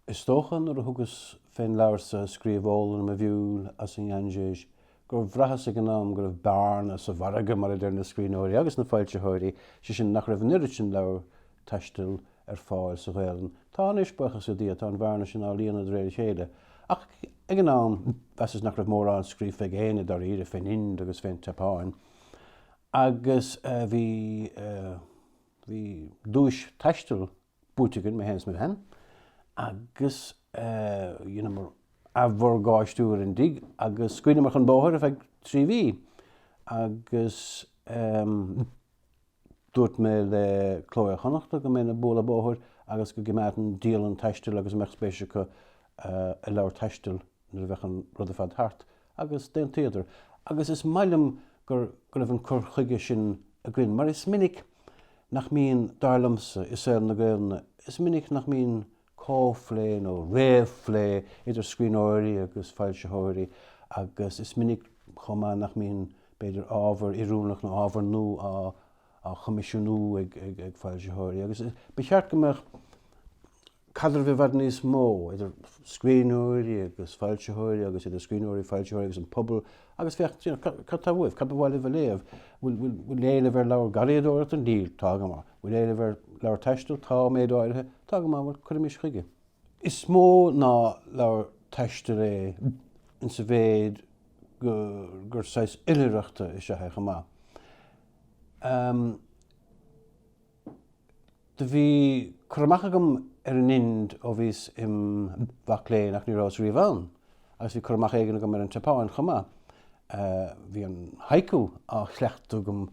Is dócha nuair a thugas fén leabhar so a scríobh Ólann mo Mhiúil as an nGainséis gur bhraitheas ag an am go raibh bearna sa mhargadh, mar a deir na scríbhneoirí agus na foilsitheoirí, sé sin nach raibh an oiread sin leabhar taistil ar fáil sa Ghaelainn. Tá anois, buíochas le Dia, tá an bhearna sin á líonadh de réir a chéile. Ach ag an am, mheasas nach raibh mórán scríofa ag éinne, dáiríre, fén Ind agus fén tSeapáin. Agus bhí, bhí duais taistil buaite againn, mé féin is mo bhean, agus dheineamar athmhorgáistiú ar an dtigh agus scaoileamar chun bóthair ar feadh trí mhí. Agus. Dúirt mé le Cló Iar-Chonnachta go mbeinn ag bualadh bóthair agus go gcimeádfainn dialann taistil agus an mbeadh spéis acu i leabhar taistil nuair a bheadh an rud ar fad thart, agus d'aontaíodar. Agus is maith liom gur go raibh an cur chuige sin againn mar is minic nach mbíonn, dar liomsa, i saol na Gaelainne, is minic nach mbíonn comhphlé nó réamhphlé idir scríbhneoirí agus foilsitheoirí agus is minic chomh maith nach mbíonn, b'fhéidir, ábhar oiriúnach nó ábhar nua á choimisiúnú ag foilsitheoirí agus ba cheart go mbeadh caidreamh i bhfad níos mó idir scríbhneoirí agus foilsitheoirí agus idir scríbhneoirí, foilsitheoirí agus an pobal agus féach, cad tá uaibh, cad ba mhaith libh a léamh, bhfuil éileamh ar leabhar garraíodóireachta? Níl, tá go maith. Bhfuil éileamh ar leabhair taistil? Tá, méid áirithe. Tá go maith, bhuel, cuirimis chuige. Is mó ná leabhar taistil é insa mhéid go gur saghas oilithreachta is ea é chomh maith. Ahem. Do bhí cur amach agam ar an Ind ó bhíos im mhac léinn ach ní rabhas riamh ann. Agus bhí cur amach éigin agam ar an tSeapáin chomh maith. Bhí an haiku á chleachtadh agam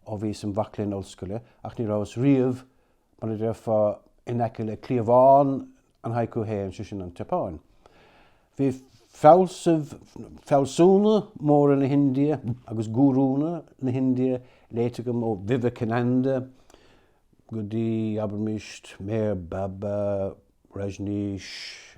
ó bhíos im mhac léinn ollscoile ach ní rabhas riamh, mar a déarfá, in aice le cliabhán an haiku fhéin, sé sin an tSeapáin. Bhí fealsaimh, fealsúna móra na hIndia agus gúrúnna na hIndia léite agam ó Vivekananda go dtí, abraimis, Meher Baba, Rajneesh,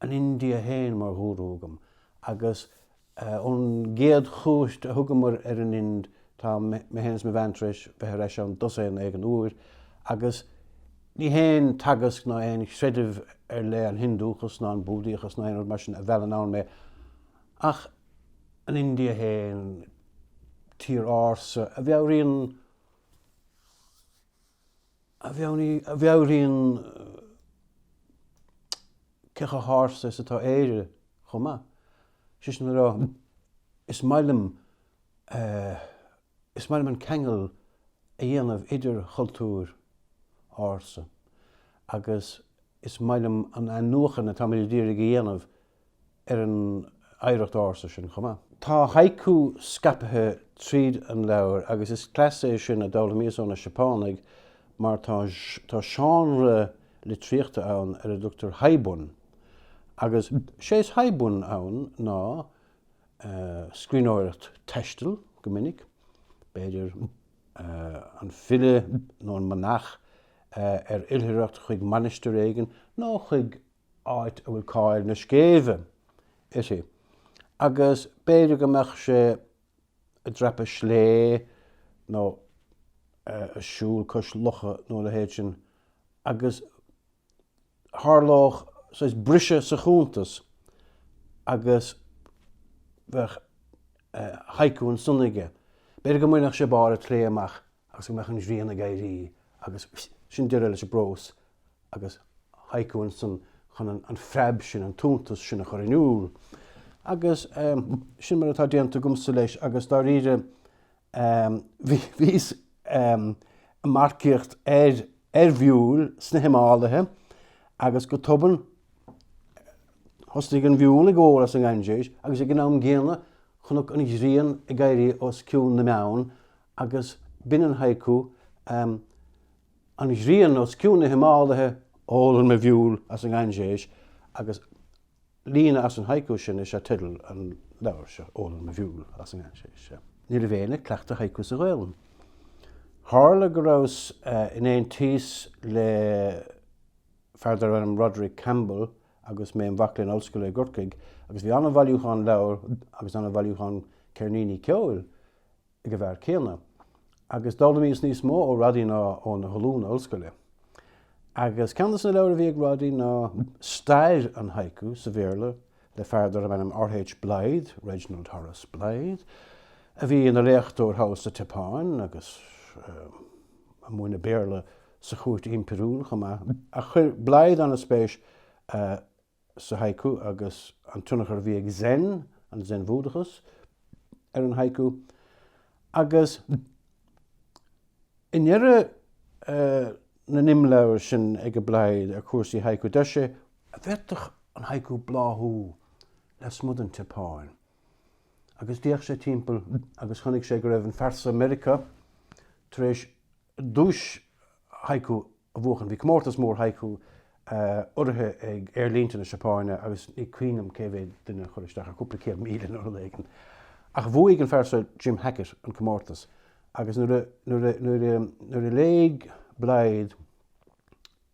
an India féin mar ghúrú agam agus ón gcéad chuairt a thugamar ar an Ind tá mé féin is mo bhean tar éis bheith ar ais ann dosaen éigin uair agus ní haon teagasc ná aon chreideamh ar leith, an Hiondúchas ná an Búdaíochas ná aon rud mar sin, a mheallann ann mé ach an India féin, tír ársa a mheabhraíonn. a mheabhraíonn cé chomh hársa is atá Éire chomh maith. Sé sin le rá, is maith liom is maith liom an ceangal a dhéanamh idir chultúr ársa agus is maith liom an athnuachan atáimid ag iarraidh a dhéanamh ar an oidhreacht ársa sin chomh maith. Tá haiku scaipthe tríd an leabhar agus is cleas é sin a d'fhoghlaimíos ó na Seapánaigh mar tá tá seánra litríochta ann ar a dtugtar haibun agus sé is haibun ann ná scríbhneoireacht taistil go minic, b'fhéidir an file nó an manach ar oilthireacht chuig mainistir éigin nó chuig áit a bhfuil cáil na scéimhe uirthi, agus b'fhéidir go mbeadh sé ag dreapadh sléibhe nó ag siúl cois locha nó a leithéid sin agus tharlódh saghas briseadh sa chuntas agus bheadh haiku ansan aige. B'fhéidir go mbainfeadh sé barr an tsléibhe amach agus go mbeadh an ghrian ag éirí agus sin deireadh leis an bprós agus haiku ansan chun an phreab sin, an t-iontas sin a chur in iúl. Agus sin mar atá déanta agamsa leis agus dáiríre bhíos ag marcaíocht ar mhiúil sna Himáilithe agus go tobann thosnaigh an mhiúil ag ól as an nGainséis agus ag an am gcéanna chonac an ghrian ag éirí os cionn na mbeann Agus b'in an haiku, ahem, An ghrian os cionn na Himáilithe, ólann mo mhiúil as an nGainséis, agus líne as an haiku sin is ea teideal an leabhair seo, Ólann mo mhiúil as an nGainséis. Ní raibh éinne ag cleachtadh haiku sa Ghaoluinn. Tharla go rabhas in aontíos le fear darbh ainm Roderic Campbell agus mé im mhac léinn ollscoile i gCorcaigh agus bhí an-bhailiúchán leabhar agus an-bhailiúchán ceirníní ceoil ag an bhfear céanna, agus d'fhoghlaimíos níos mó ó Roddy ná ó na hollúna ollscoile. Agus ceann dos na leabhair a bhí ag Roddy ná Stair an Haiku sa Bhéarla le fear darbh ainm R. H. Blyth, Reginald Horace Blyth, a bhí ina léachtóir thall sa tSeapáin agus ag múineadh Béarla sa chúirt impiriúil chomh maith. Ach chuir Blyth an-spéis sa haiku agus an tionchar a bhí ag Zen, an Zen-Bhúdachas, ar an haiku. Agus i ndeireadh na n-imleabhar sin ag Blyth ar chúrsaí haiku, deir sé, An bhféadfadh an haiku bláthú lasmuigh den tSeapáin. Agus d'fhéach sé timpeall agus chonaic sé go raibh an fear so i Meiriceá tar éis duais haiku a a bhuachan. Bhí comórtas mór haiku urraithe ag aerlínte na Seapáine agus ní cuimhin liom cé mhéad duine a chuir isteach air cúpla céad míle nó rud éigin. Ach bhuaigh an fear seo Jim Hackett an comórtas agus nuair a léigh Blyth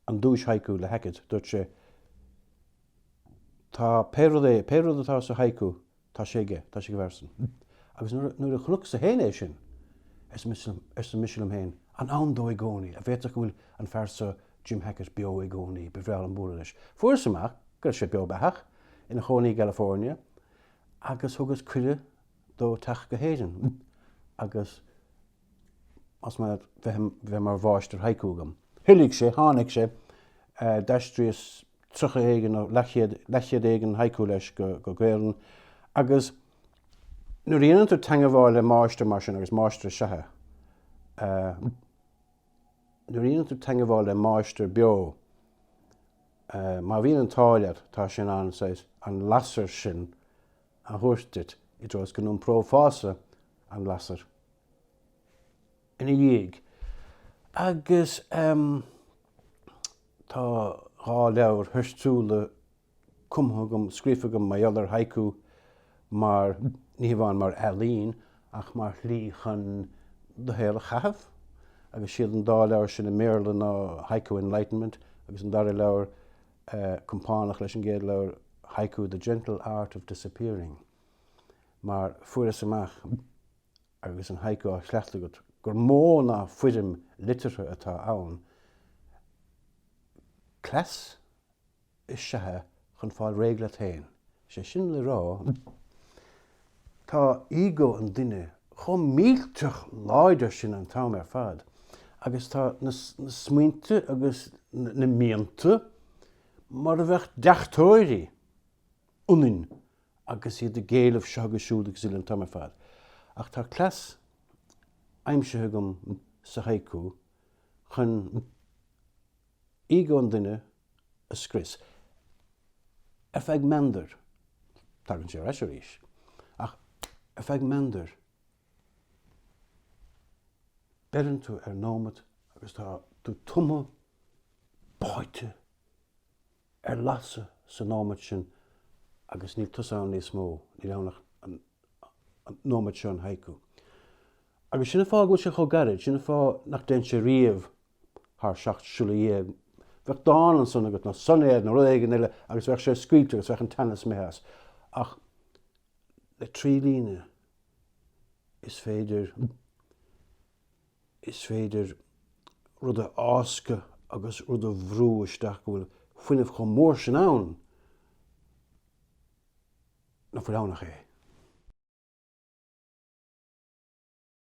an duais haiku le Hackett dúirt sé Tá pé rud é, pé rud atá sa haiku, Tá sé aige, tá sé aige ar seisean. Agus nuair a chonacsa féin é sin, arsa mise liom féin, an ann dó i gcónaí, an bhféadfadh go bhfuil an fear so Jim Hackett beo i gcónaí, ba bhreá liom bualadh leis. Fuaireas amach go raibh sé beo beathach, ina chónaí i gCalifornia, agus thugas cuireadh dó teacht go hÉirinn agus. chun a bheith mar mháistir haiku agam. Thoiligh sé, tháinig sé, d'aistríos tríocha éigin nó leathchéad, leathchéad éigin haiku leis go Gaelainn agus nuair a dheineann tú teagmháil le máistir mar sin agus máistir is ea é, nuair a dheineann tú teagmháil le máistir beo, má bhíonn an t-ádh leat, tá sé in ann an lasair sin. a thabhairt duit i dtreo is go n-iomprófása an lasair ina dhiaidh. Agus tá dhá leabhar theoiriciúla cumtha agam, scríofa agam mar gheall ar haiku, mar ní hamháin mar ealaín ach mar shlí chun do shaol a chaitheamh. Agus siad an dá leabhar sin i mBéarla ná Haiku Enlightenment agus an dara leabhar compánach leis an gcéad leabhar haiku The Gentle Art of Disappearing, mar fuaireas amach, agus an haiku á chleachtadh agat, gur mó ná foirm liteartha atá ann. Cleas is ea é chun fáil réidh leat féin, Sé sin le rá, tá ego an duine chomh millteach láidir sin an t-am ar fad agus tá na smaointe agus na mianta mar a bheadh deachtóirí ionainn agus iad ag éileamh seo agus siúd agus uile an t-am ar fad. Ach tá cleas aimsithe agam sa haiku chun. ego an duine a scrios. Ar feadh meandair. Tagann sé ar ais arís. Ach ar feadh meandair, beireann tú ar nóimeat agus tá tú tumtha, báite Ar lasadh sa nóimeat sin agus níl tusa ann níos mó, níl ann ach an nóimeat seo, an haiku. Agus sin an fáth go bhfuil sé chomh gairid, sin an fáth nach dtéann sé riamh thar seacht siolla dhéag. Bheadh dán ansan agat, nó soinéad nó rud éigin eile agus bheadh sé scaoilte agus bheadh an teannas imithe as. Ach le trí líne is féidir. Is féidir rud a fháscadh agus rud a bhrú isteach go bhfuil fuinneamh chomh mór sin ann nach bhfuil ann ach é.